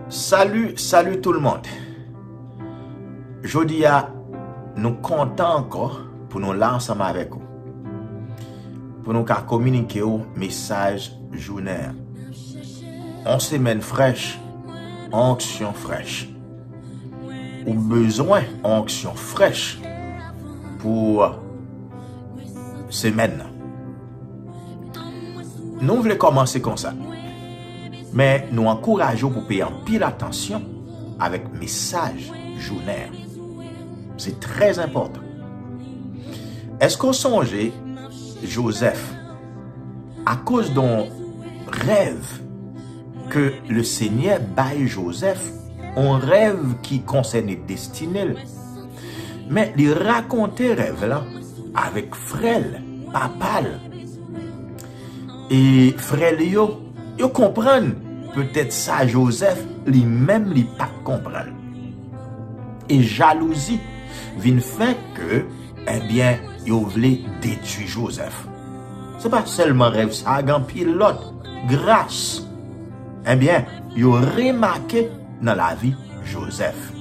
Salut salut tout le monde Jodi a nou kontan ankò pou nou la ansanm avèk ou pou nou ka kominike ou mesaj jounen an On semèn frèch On onksyon frèch Ou bezwen on onksyon frèch pou semèn nan. Nou vle kòmanse konsa. Men nou ankouraje ou pou peye anpil atansyon avèk mesaj jounen an. Se trè enpòtan. Eske ou sonje Joseph akoz don rèv ke le Senyè bay Joseph, on rèv ki konsène destine l. Men li rakonte rèv lan avèk frè l, papa l. E frè li yo, yo konprann petèt sa Jozèf li menm li pa t konprann. E jalouzi vin fè ke ebyen yo vle detui Jozèf. Se pa sèlman rèv sa, gen anpil lòt. Gras ebyen yo remake. nan lavi Joseph.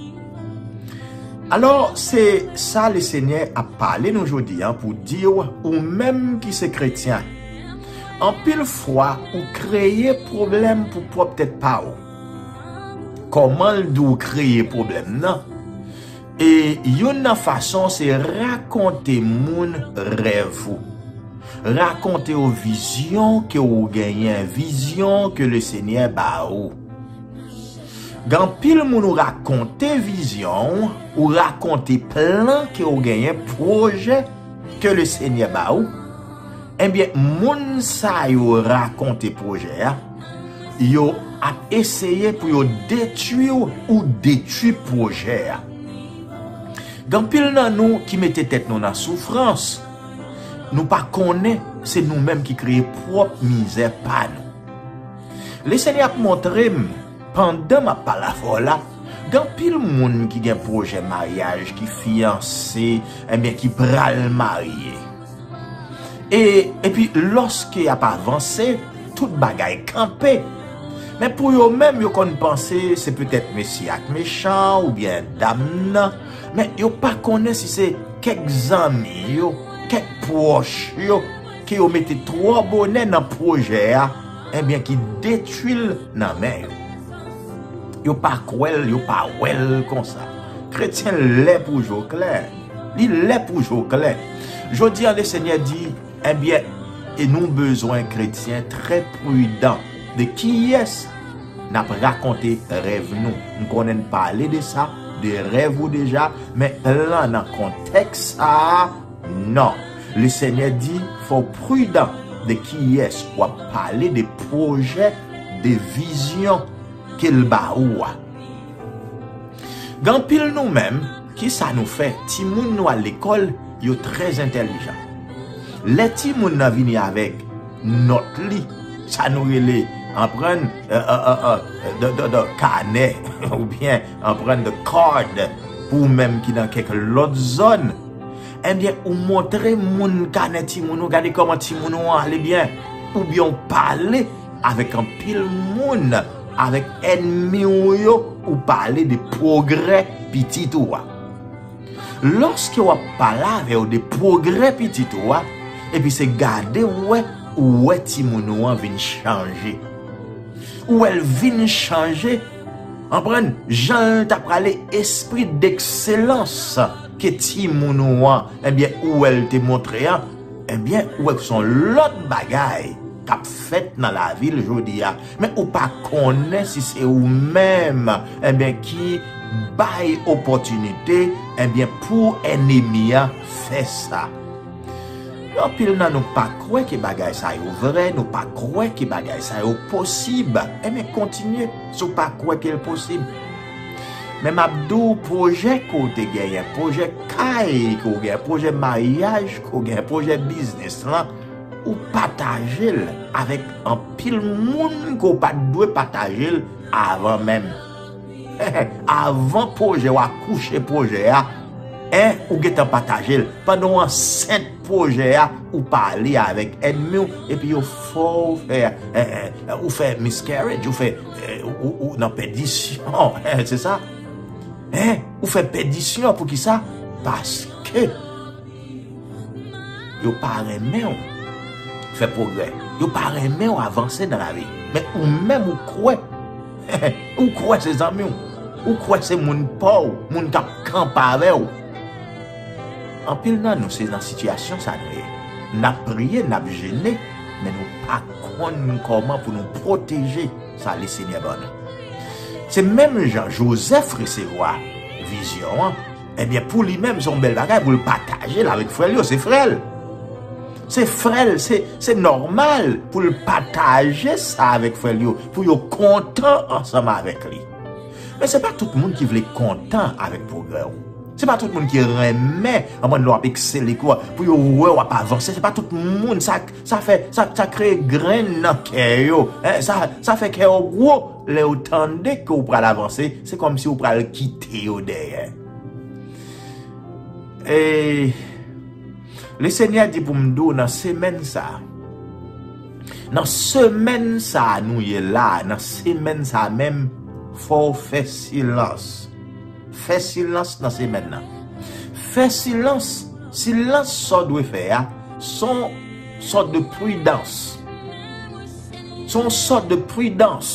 Alò se sa le Senyè ap pale nou jodi an pou di w ou menm ki se kretyen, anpil fwa ou kreye pwoblèm pou pwòp tèt pa w. Kòman l di w kreye pwoblèm nan? E youn nan fason se rakonte moun rèv ou. Rakonte yo vizyon ke ou genyen, vizyon ke le Senyè ba ou. Gen anpil moun ou rakonte vizyon ou, ou rakonte plan ke ou genyen, pwojè ke le Senyè ba ou, enbyen moun sa yo rakonte pwojè a, yo ap eseye pou yo detwi ou, ou detwi pwojè a. Gen anpil nan nou ki mete tèt nou nan soufrans, nou pa konnen se nou menm ki kreye pwòp mizè pa nou. Lesenyè ap montre m pandan m ap pale avè w la, gen anpil moun ki gen pwojè maryaj, ki fiyanse, enben ki pral marye. E, epi lòske y ap avanse, tout bagay kanpe. Men pou yo menm yo konn panse se petèt mesye a k mechan oubyen dam nan, men yo pa konnen si se kèk zanmi yo, kèk pwòch yo. ke yo mete twò bonè nan pwojè a enbyen ki detwi l nan men yo. Yo pa kwè l, yo pa wè l konsa. Kretyen lè pou jo klè. Li lè pou jo klè. Jodi a Lesenyè di, enbyen, e nou bezwen kretyen trè pridan de kiyès n ap rakonte rèv nou. M konnen n pale de sa, de rèv ou deja, men lan nan kontèks sa a, Non. Le Senyè di fò w pridan de kiyès w ap pale, de pwojè, de vizyon ke l ba ou a. Gen anpil nou menm, kisa nou fè? Timoun nou al lekòl, yo trè entèlijan. Lè timoun nan vini avèk nòt li, sa nou rele, anprann, kanè oubyen En pran the card pou ou menm ki nan kek lot zon Ebyen ou montre moun kanè timoun ou gade koman timoun ou an ale byen Oubyen ou pale avek anpil moun avek enmi ou yo ou pale de progrè pitit ou a Loske wap pale avè yo de progrè pitit ou a epi se gade ou wè ou wè timoun ou an vin chanje Ou wèl vin chanje Anpren jan l ta prale espri dekselans ke timoun ou an enbyen ou wè l te montre an enbyen ou wè ke se yon lòt bagay k ap fèt nan lavi l jodi a men ou pa konnen si se ou menm enbyen ki bay opòtinite enbyen pou enemi an fè sa. Anpil nan nou pa kwè ke bagay sa yo vrè, nou pa kwè ke bagay sa yo posib. Enben kontinye si w pa kwè ke l posib. Men m ap di w pwojè ke w te genyen, pwojè kay ke w genyen, pwojè maryaj ke w genyen, pwojè biznis lan, ou pataje l avèk anpil moun ke w pa t dwe pataje l avan menm. Avan pwojè w akouche pwojè a ou gentan pataje l pandan w ansent pwojè a ou pale avèk ènmi w epi yo fè w fè ou fè miscarriage ou fè ou nan pèdisyon se sa ou fè pèdisyon poukisa paske yo pa renmen w fè pwogrè yo pa renmen w avanse nan lavi men ou menm ou kwè Ou kwè se zanmiw, ou kwè se moun paw, moun kap kanpe avèw. Anpil nan nou se nan sitiyasyon sa nou ye. Nap priye, nap jene, men nou pa konn kòman pou nou pwoteje sa Lesenyè ban nou. Se menm jan Jozèf resevwa vizyon an. Ebyen pou li menm son bèl bagay pou l pataje l avèk frè l yo, se frè l. Se frè l, se nòmal pou l pataje sa avèk frè l yo pou yo kontan ansanm avèk li. Men se pa tout moun ki vle kontan avèk pwogrè w. Se pa tout moun ki renmen anpwen lè w ap eksele kou a pou yo wè w ap avanse, se pa tout moun sa fè sa kreye grenn nan kè yo, sa fè kè yo gwo. Lè yo tande ke ou pral avanse, se kòm si ou pral kite yo dèyè. E, le Senyè di pou m di w nan semèn sa, nan semèn sa nou ye la, nan semèn sa menm, fò w fè silans. Fè silans nan semèn nan. Fè silans, silans sa w dwe fè a, son sòt de pridans. Se yon sòt de pridans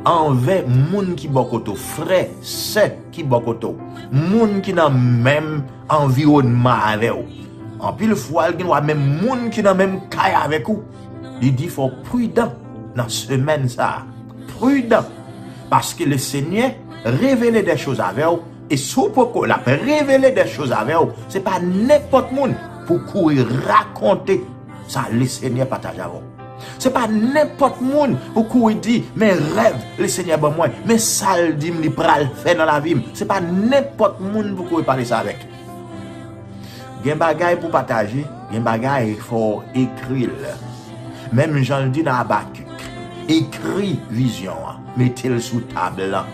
anvè moun ki bò kote w, frè, sè ki bò kote w, moun ki nan menm anviwònman avè w. Anpil fwa l gen dwa menm moun ki nan menm kay avèk ou. Li di fò w pridan nan semèn sa a. Pridan! Paske Lesenyè revele dè choz avè w, e si w poko l ap revele dè choz avè w, se pa nenpòt moun pou w kouri rakonte. Sa lesenyè pataje avè w. Se pa nenpòt moun ou kouri di, men rèv lesenyè ban mwen, men sa l di m li pral fè nan lavi m. Se pa nenpòt moun pou kouri pale sa avèk. Gen bagay pou pataje, gen bagay fò w ekri l. Menm jan l di nan Abakik, ekri vizyon an, mete l sou tab lan.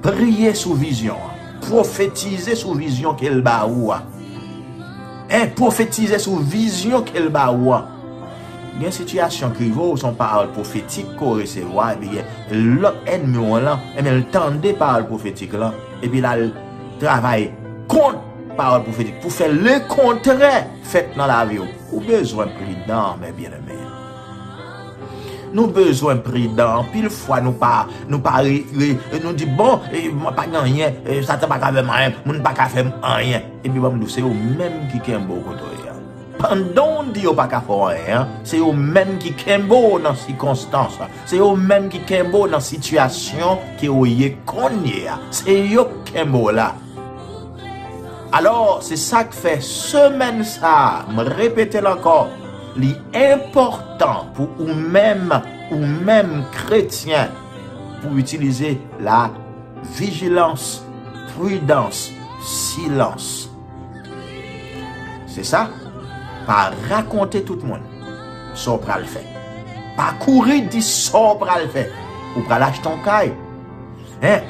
Priye sou vizyon an, pwofetize sou vizyon ke l ba ou a. E pwofetize sou vizyon ke l ba ou an. Gen sitiyasyon ki rive w, se yon pawòl pwofetik ke w resevwa, epi gen lòt ènmi w lan, enben l tande pawòl pwofetik lan, epi l al travay kont pawòl pwofetik pou fè lekontrè fèt nan lavi w. Ou bezwen pridan, mè byeneme yo. Nou bezwen pridan, anpil fwa nou pa, nou pa re, nou di bon, mwen pa gen anyen, Satan pa ka fè m anyen, moun pa ka fè m anyen. Epi banm diw se yo menm ki kenbew kote w ye a. Pandanw di yo paka fè w anyen an, se yo menm ki kenbe w nan sikonstans, se yo menm ki kenbe w nan sitiyasyon ke w ye kounye a. Se yo k kenbe w la. Alò, se sak fè semèn sa, m repete l ankò, li enpòtan pou ou menm, ou menm kretyen, pou w itilize la. Vigilance, prudence, silence. Se sa, pa rakonte tout moun sa w pral fè. Pa kouri di sa w pral fè. Ou pral achte yon kay,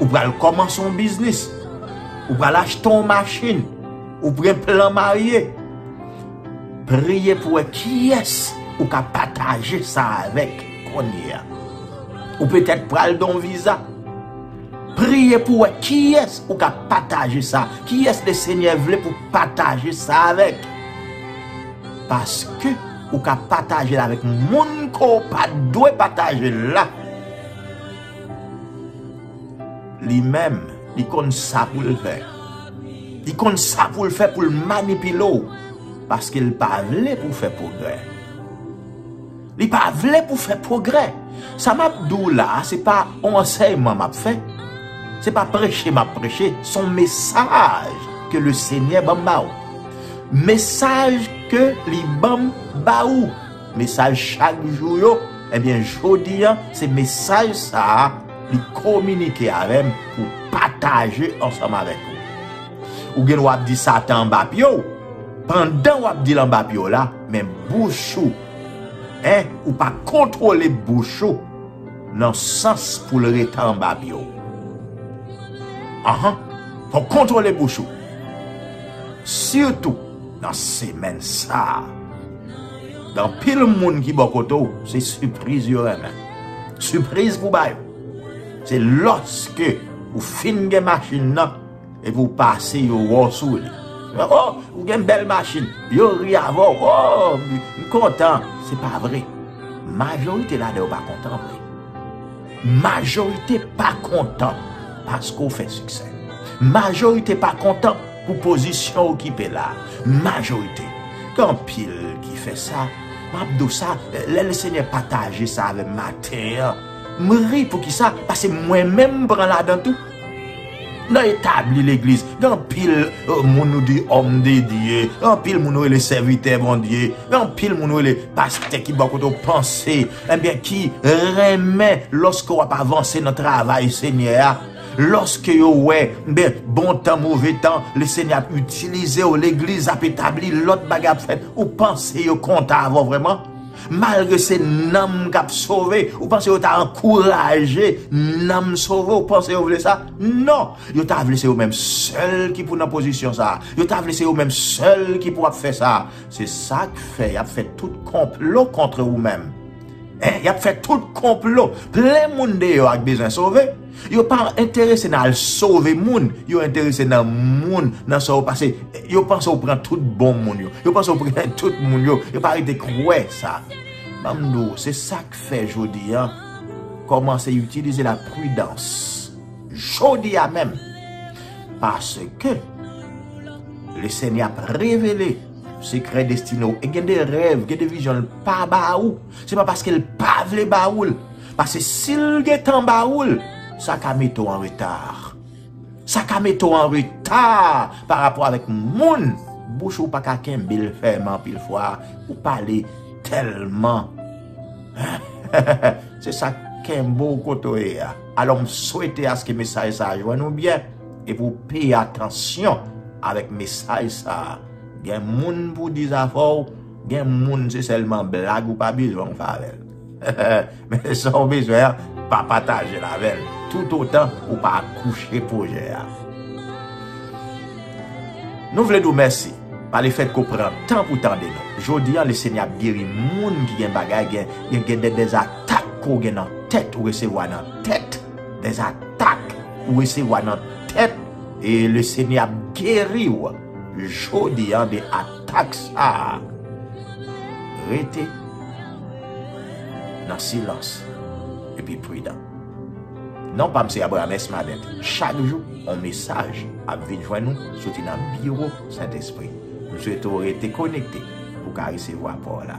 ou pral kòmanse yon biznis, ou pral achte yon machin, ou pran plan marye. Priye pou wè kiyès ou ka pataje sa avèk. Konnye a, ou petèt pral gen yon viza. Priye pou wè kiyès ou ka pataje sa. Kiyès le Senyè vle pou pataje sa avèk. Paske ou ka pataje l avèk moun ke w pa dwe pataje l la. Li menm, li konn sa pou l fè. Li konn sa pou l fè pou l manipile w. Paske l pa vle pou w fè pwogrè. Li pa vle pou fè pwogrè. Sa m ap di w la a, se pa yon ansèyman m ap fè, se pa preche m ap preche, se yon mesaj ke Lesenyè ban m ba ou. Mesaj ke Li ban m ba ou. Mesaj chak jou yo, ebyen jodi an, se mesaj sa a Li kominike avè m pou m pataje ansanm avèk ou. Ou gen dwa ap di Satan anba pye w, pandan w ap di l anba pye w la, men bouch ou, Hein ou pa kontrole bouch ou nan sans pou l rete anba pye w. Anh fò w kontrole bouch ou sitou nan semèn sa a. Gen anpil moun ki bò kote w se sipriz yo renmen. Sipriz pou w ba yo. Se lòske ou fin gen machin nan. Epi ou pase yo wò sou li. Oh, ou gen bèl machin. Yo ri avè w. Oh, m kontan. Se pa vre. Majorite ladan yo pa kontan vre. Majorite pa kontan paske ou fè siksè. Majorite pa kontan pou pozisyon ou kipe la. Majorite. Gen anpil ki fè sa. M ap di w sa, lè Lesenyè pataje sa avè m maten an, m ri. Poukisa? Pase mwen menm m pran ladan tou. Nan etabli legliz, gen anpil moun nou di òm de Dye, gen anpil moun nou rele sèvitè Bondye, gen anpil moun nou rele pastè ki bò kote ou panse, enben ki renmen lòske wap avanse nan travay Senyè a, lòske yo wè, enben bon tan, move tan, le Senyè ap itilize ou, legliz ap etabli, lòt bagay ap fèt, ou panse yo kontan avè w vrèman? Malgre se nanm k ap sove, ou panse yo ta ankouraje nanm sove? Ou panse yo vle sa? Non! Yo ta vle se yo menm sèl ki pou nan pozisyon sa a. Yo ta vle se yo menm sèl ki pou ap fè sa a. Se sa k fè y ap fè tout konplo kontre ou menm. Y ap fè tout konplo. Plen moun deyò ak bezwen sove, Yo pa enterese nan al sove moun, yo enterese nan moun, nan sa yo pase, yo panse yo pran tout bon moun yo, yo panse yo pran tout moun yo, yo pa rete kwè sa. Ban m di w, se sa k fè jodi a, kòmanse itilize la pridans, jodi a menm, paske le Senyè ap revele sekrè destine w, e gen de rèv, gen de vizyon l pa ba ou. Se pa paske l pa vle ba ou l. Pase si l gen tan ba ou l, sa ka mete w an reta. Sa ka mete w an reta pa rapò avèk moun. Bouch ou pa ka kenbe l fèmen anpil fwa. Ou pale tèlman. Se sa k kenbe w kote w ye a. Alò m swete aske mesaj sa a jwenn ou byen. E pou w peye atansyon avèk mesaj sa a. Gen moun pou w di zafè w. Gen moun se selman blag ou pa bezwen w fè avè l. Men sa w bezwen an, pa pataje l avè l tout otan ou pa kouche pwojè a. Nou vle di w mèsi pa le fèt ke w pran tan pou w tande nou. Jodi an Lesenyè ap geri moun ki gen bagay gen gen de dezatak ke w gen nan tèt ou resevwa nan tèt, dezatak ou resevwa nan tèt e Lesenyè ap geri w jodi an de atak. Taks sa a rete nan silans epi pridan. Non pa m se Abraham S. Malet. Chak jou, yon mesaj ap vin jwenn nou soti nan biwo Sentespri. M swete w rete konekte pou w ka resevwa pawòl la.